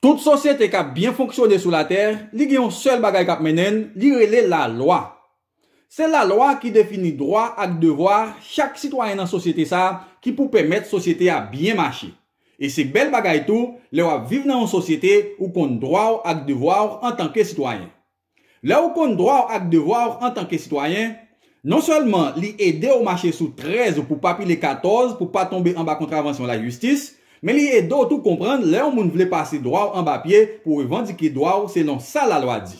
Tout sosyete k ap byen fonksyone sou latè, li gen yon sèl bagay k ap mennen l, li rele lalwa. Se lalwa ki defini dwa ak devwa chak sitwayen nan sosyete sa a ki pou pèmèt sosyete a byen mache. E se bèl bagay tou lè w ap viv nan yon sosyete ou konn dwa w ak devwa w antanke sitwayen. Lè ou konn dwa w ak devwa w antanke sitwayen, non sèlman li ede w mache sou 13 ou pou pa pile 14 pou pa tonbe anba kontravansyon lajistis, men li ede w tou konprann lè yon moun vle pase dwa w anba pye pou revandike dwa w selon sa lalwa di.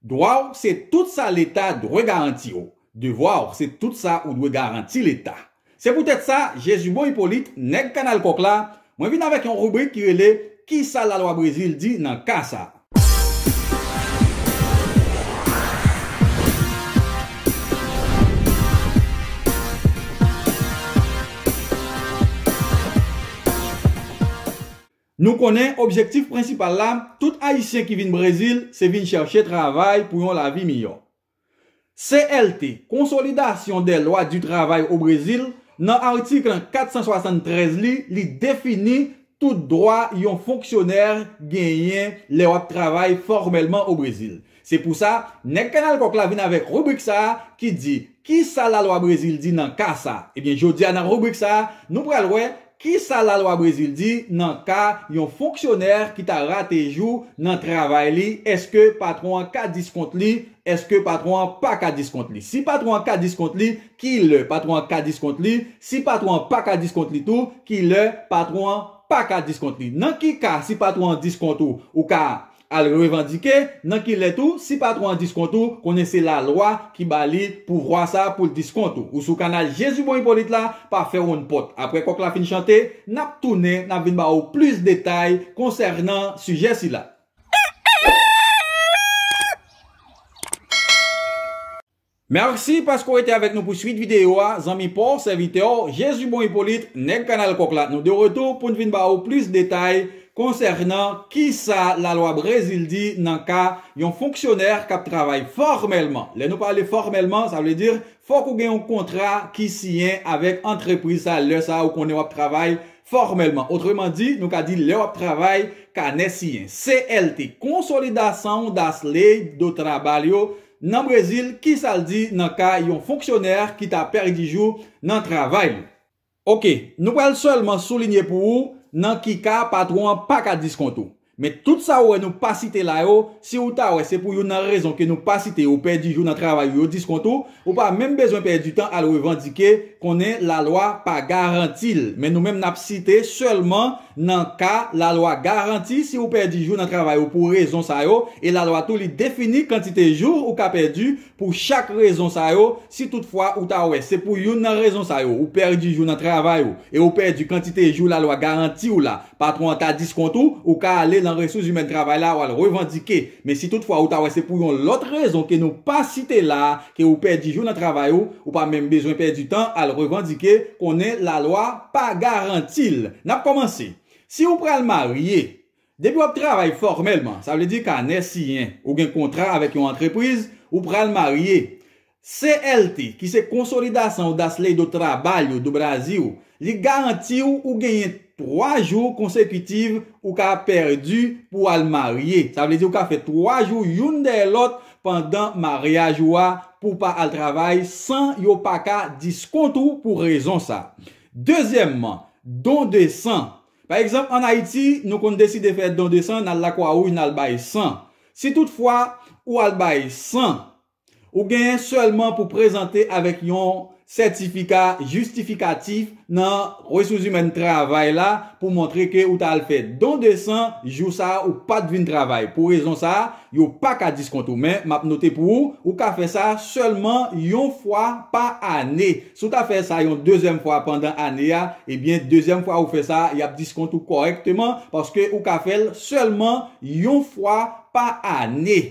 Dwa w se tout sa Leta dwe garanti w. Devwa w se tout sa ou dwe garanti Leta. Se poutèt sa, Jezibon Ipolit, nèg Kanal Kòk la, mwen vin avèk yon ribrik ki rele Kisa lalwa Brezil di nan ka sa a? Nou konnen objektif prensipal la, tout Ayisyen ki vin Brezil, se vin chèche travay pou yon lavi miyò. CLT, Consolidation des lois du travail au Brésil, nan article 473 li, li defini tout dwa yon fonksyonè genyen lè w ap travay fòmèlman o Brezil. Se pou sa, Nèg Kanal Kòk la vin avèk ribrik sa a ki di, Ki sa lalwa Brezil di nan ka sa? Ebyen, jodi a nan ribrik sa a, nou pral wè Kisa lalwa Brezil di nan ka yon fonksyonè ki ta rate jou nan travay li, èske patwon an ka diskont li, èske patwon an pa ka diskont li? Si patwon an ka diskont li, ki lè patwon an ka diskont li? Si patwon an pa ka diskont li tou, ki lè patwon an pa ka diskont li? Nan ki ka si patwon an diskont ou, ou ka Al revandike nan ki lè tou si patron an diskont ou konnen se la lwa ki ba li pouvwa sa poul diskont ou ou sou kanal Jezi bon Ipolit la pa fè wonn pòt aprè kòk la fin chante nap tounen nap vin ba ou plis detay konsènan sijè sila. Merci paske w rete avèk nou pou swit videyo a zanmi pa w sèvitè w Jezi Bon Ipolit nèg kanal kòk la nou de retou pou n vin ba ou plis detay konsènan kisa lalwa brezil di nan ka yon fonksyonè k ap travay fòmèlman lè nou pale fòmèlman sa vle di fòk ou gen yon kontra ki siyen avèk antrepriz sa lè sa ou konnen w ap travay fòmèlman otreman di nou ka di lè w ap travay kanè siyen CLT konsolidasaun das Leis do Trabalho Nan Brezil, ki sa l di nan ka yon fonksyonè ki ta pèdi jou nan travay li? Ok, nou pral sèlman soulinye pou ou nan ki ka patwon an pa ka diskont ou. Men tout sa ou wè nou pa site la yo, si ou ta wè se pou youn nan rezon ke nou pa site yo pèdi jou nan travay ou yo diskont ou, ou pa menm bezwen pèdi tan al revandike, konnen lalwa pa garanti l. Men nou menm n ap site sèlman Nan ka, lalwa garanti si ou pèdi jou nan travay ou pou rezon sa yo, e lalwa tou li defini kantite jou ou ka pèdi pou chak rezon sa yo, si tout fwa ou ta wè se pou youn nan rezon sa yo ou pèdi jou nan travay ou e ou pèdi kantite jou lalwa garanti ou la, patwon an ka diskont ou, ou ka ale lan resous zimèn travay la wal revandike. Men si tout fwa ou ta wè se pou yon lòt rezon ke nou pa site la, ke ou pèdi jou nan travay ou, ou pa menm bezwen pèdi tan al revandike, konnen lalwa pa garanti l. N ap kòmanse. Si ou pral marye, depi w ap travay fòmèlman, sa vle di kanè siyen, ou gen kontra avèk yon antrepriz, ou pral marye. CLT, ki se Consolidação das Leis do Trabalho do Brasil, li garanti w ou genyen 3 jou konsekitiv ou ka pèdi pou w al marye. Sa vle di ou ka fè 3 jou youn dèyè lòt pandan maryaj ou a pou w pa al travay san yo pa ka diskont ou pou rezon sa. Dezyèmman, don de san. Pa egzanp an Ayiti, nou konn deside fè don de san, n al Lakwawouj n al bay san. Si tout fwa ou al bay san, Ou genyen sèlman pou prezante avèk yon sètifika jistifikatif nan Resouzimèn Travay la pou montre ke ou ta al fè don de san jou sa a ou pat vin travay. Pou rezon sa a, yo pa ka diskont ou. Men, m ap note pou ou, ou ka fè sa sèlman yon fwa pa ane. Si w ta fè sa yon dezyèm fwa pandan ane a, ebyen dezyèm fwa ou fè sa a, y ap diskont ou kòrèkteman paske ou ka fè l sèlman yon fwa pa ane.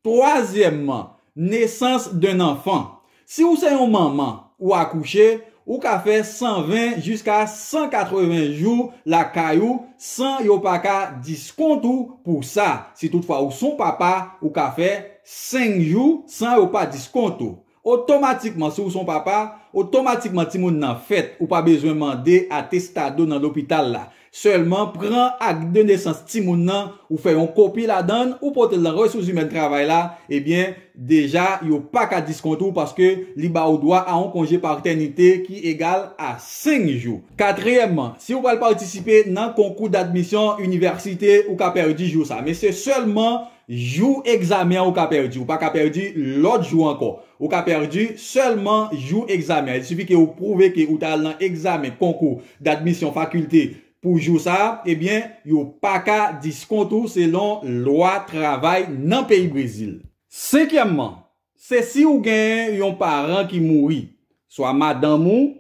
Twazyèmman, nesans d'un enfant. Si ou se yon manman, ou akouche, ou ka fè 120 jiska 180 jou lakay ou san yo pa ka diskont ou pou sa. Si tout fwa ou son papa, ou ka fè 5 jou san yo pa diskont ou. Otomatikman, si ou son papa, otomatikman timoun nan fèt, ou pa bezwen mande atestado nan lopital la. Sèlman, pran ak de nesans timoun nan, ou fè yon kopi ladann, ou pote l nan resouzimèn travay la, ebyen, deja, yo pa ka diskont ou paske li ba ou dwa a yon konje patènite ki egal a 5 jou. Katriyèmman, si ou pral patisipe nan konkou dadmisyon inivèsite, ou ka pèdi jou sa. Men se sèlman Jou egzamen an ou ka pèdi, ou pa ka pèdi lòt jou ankò. Ou ka pèdi sèlman jou egzamen an. Il sifi ke ou pwouve ke ou ta al nan egzamen konkou d'admisyon fakilte pou jou sa a, ebyen yo pa ka diskont ou selon lwa travay nan peyi Brezil. Senkyèmman, se si ou gen yon paran ki mouri, swa madanm ou,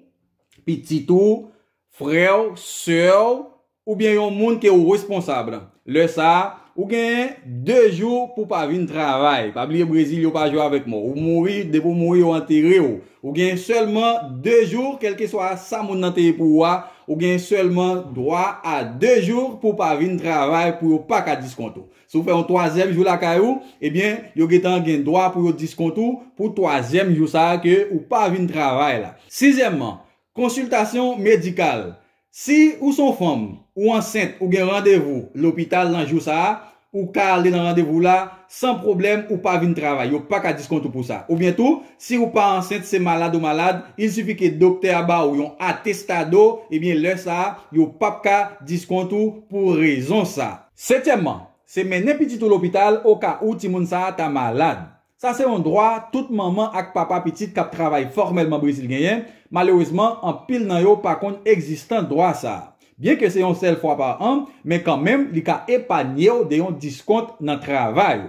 pitit ou, frè w, sè w, oubyen yon moun ke ou responsab. Lè sa a, ou gen 2 jou pou w pa vin travay. Pa bliye Brezil yo pa jwe avèk mò. Ou mouri, depi ou mouri yo antere w. Ou gen sèlman 2 jou, kèlkeswa sa moun nan te ye pou ou a, ou gen sèlman dwa a 2 jou pou w pa vin travay pou yo pa ka diskont ou. Si w fè yon twazyèm jou lakay ou, ebyen yo gentan gen dwa pou yo diskont ou pou twazyèm jou sa a ke ou pa vin travay la. Sizyèmman, Konsiltasyon Medikal Si ou s on fanm, ou ansent ou gen randevou lopital nan jou sa a, ou ka ale nan randevou w la san pwoblèm ou pa vin travay, yo pa ka diskont ou pou sa. Oubyen tou, si ou pa ansent, se malad ou malad, il sifi ke doktè a ba ou yon atestado, ebyen lè sa a, yo p ap ka diskont ou pou rezon sa. Setyèmman, se mennen pitit ou lopital oka ou timoun sa a ta malad. Sa se yon dwa tout manman ak papa pitit k ap travay fòmèlman Brezil genyen. Malerezman, anpil nan yo pa konn egzistans dwa sa a. Byenke se yon sèl fwa pa an, men kanmenm li ka epanye w de yon diskont nan travay ou.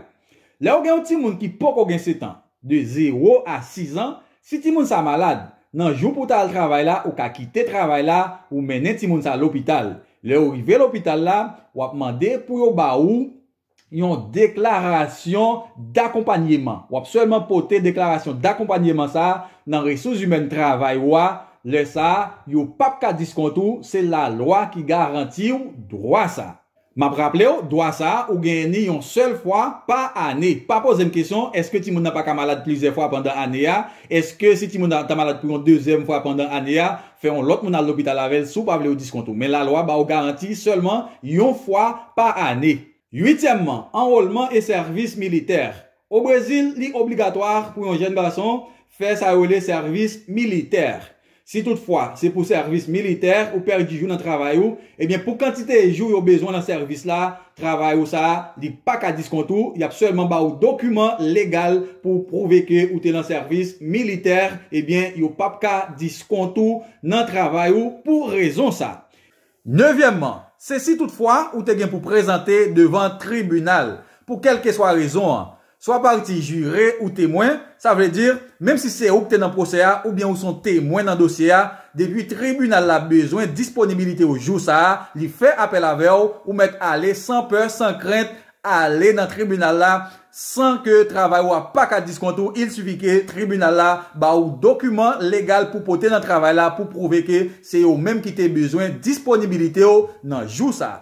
Lè ou gen yon timoun ki poko gen setan, de zewo a sizan, si timoun sa malad, nan jou pou w ta al travay la ou ka kite travay la, ou mennen timoun sa lopital. Lè ou rive lopital la, w ap mande pou yo ba ou yon deklarasyon dakonpanyeman. W ap sèlman pote deklarasyon dakonpanyeman sa a nan resouzimèn travay ou a, lè sa a, yo p ap ka diskont ou, se lalwa ki garanti ou dwa sa a. M ap raple ou, dwa sa a, ou genyen ni yon sèl fwa pa ane. Pa poze m kesyon, èske timoun nan pa ka malad plizyè fwa pandan ane a? Èske si timoun nan ta malad pou yon dezyèm fwa pandan ane a, Fè yon lòt moun al lopital avè l si w pa vle yo diskont ou, men lalwa ba w garanti sèlman yon fwa pa ane. Uityèmman, anwolman e sèvis militè. O Brezil, li obligatwa pou yon jèn gason fè sa yo rele sèvis militè. Si tout fwa se pou sèvis militè ou pèdi jou nan travay ou, ebyen pou kantite jou yo bezwen nan sèvis la, travay ou sa a, li pa ka diskont ou, y ap sèlman ba ou dokiman legal pou w pwouve ke ou te nan sèvis militè, ebyen yo p ap ka diskont ou nan travay ou pou rezon sa a. Nevyèmman, se si toutfwa ou te gen pou prezante devan tribinal pou kèlkeswa rezon an, Swa pati jire ou temwen, sa vle di, menm si se ou ki te nan pwosè a oubyen ou se yon temwen nan dosye a, depi tribinal la bezwen disponibilite w jou sa a li fè apèl avè w, ou mèt ale san pè, san krent, ale nan tribinal la san ke travay ou a pa ka diskont ou, il sifi ke tribinal la ba ou dokiman legal pou pote nan travay la pou pwouve ke se yo menm ki te bezwen disponibilite w nan jou sa a.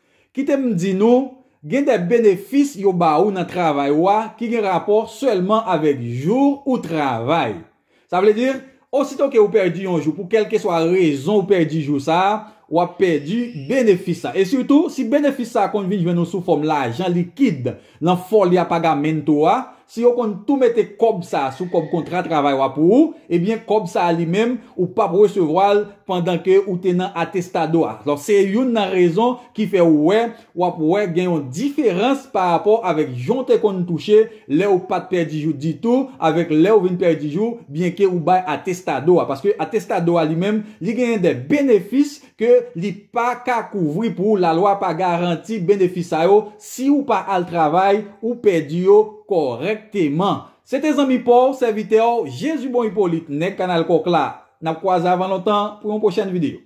Kite m di nou, gen de benefis yo ba ou nan travay ou a ki gen rapò sèlman avèk jou ou travay. Sa vle di, osito ke ou pèdi yon jou pou kèlkeswa rezon ou pèdi jou sa a, w ap pèdi benefis la. E sitou, si benefis sa a konn vin jwenn ou sou fòm lajan likid, Lan foli apagamento a, si yo konn tou mete kòb sa a sou kòb kontra travay wa pou ou, ebyen kòb sa a li menm ou pap resevwa l pandan ke ou te nan atestado a. Lò se youn nan rezon ki fè ou wè, wap wè gen yon diferans pa rapò avèk jan w te konn touche lè ou pat pèdi jou ditou avèk lè ou vin pèdi jou byenke ou bay atestado a. Paske atestado a li menm li genyen dè benefis ke li pa ka kouvri pou ou lalwa pa garanti benefis sa yo si ou pa al travay ou pèdi yo kòrèkteman se te zanmi pa w sèvitè w Jezibon Ipolit nèg kanal kòk la n ap kwaze avan lontan pou yon pwochèn videyo.